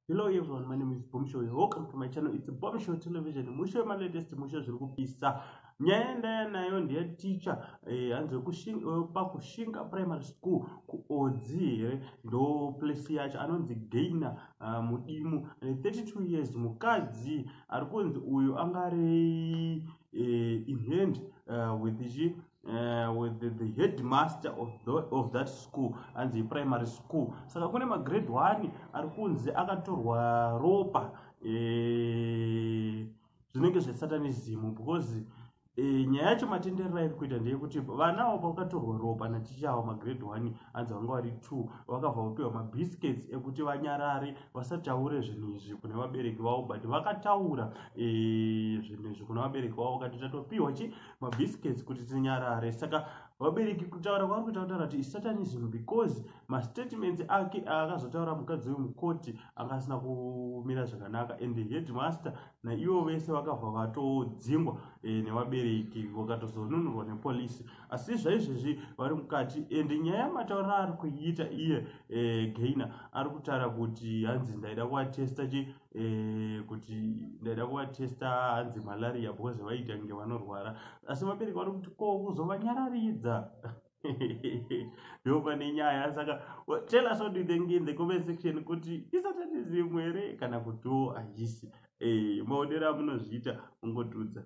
hello everyone my name is bomshow welcome to my channel it's bomshow television musho malatest musho zviri kupisa nyaya ndaya nayo ndiya ticha eh, hanzi eh, pakushinga primary school kuodzi here ndo place yacho anonzi gaina ah, mudimu 32 eh, years mukadzi ari kunzi uyu anga ari inhand with chi Uh, with the, the headmaster of, the, of that school anzi primary school saka kune magrade one ari kunzi akatorwa ropa eh, zvinenge zvesatanism because eh, nyaya yacho matenderero airi kuita ndeyekuti vana avo pavakatorwa ropa naticha avo magrade one anzi vanga vari two vakabva vapiwa mabiscuits ekuti vanyarare vasataure zvinhu izvi kune vabereki vavo but vakataura eh, zvinhu izvi kuna vabereki vavo vakati tatopiwa chi mabiscuits kuti tinyarare saka vabereki kutaura kwavari kuita kutaura kuti isatanism because mastatements ake aakazotaura mukadzi wemukoti anga asina kumira zvakanaka and the headmaster naivo vese vakabva vatodzingwa e, nevabereki vakatozonunurwa nepolisi asi zvaizvezvi vari mukati and nyaya yamataurira ari kuiita iye e, gaina ari kutaura kuti hanzi ndaida kuatesta che eh, kuti ndaida kuvatesta hanzi malaria because vaita nge vanorwara asi vabereki vari kuti ko kuzovanyararidza ndopane nyaya saka tell us what do you think in the comment section kuti isatanism here kana kutiwo haisi eh, maonero amunozviita ungotudza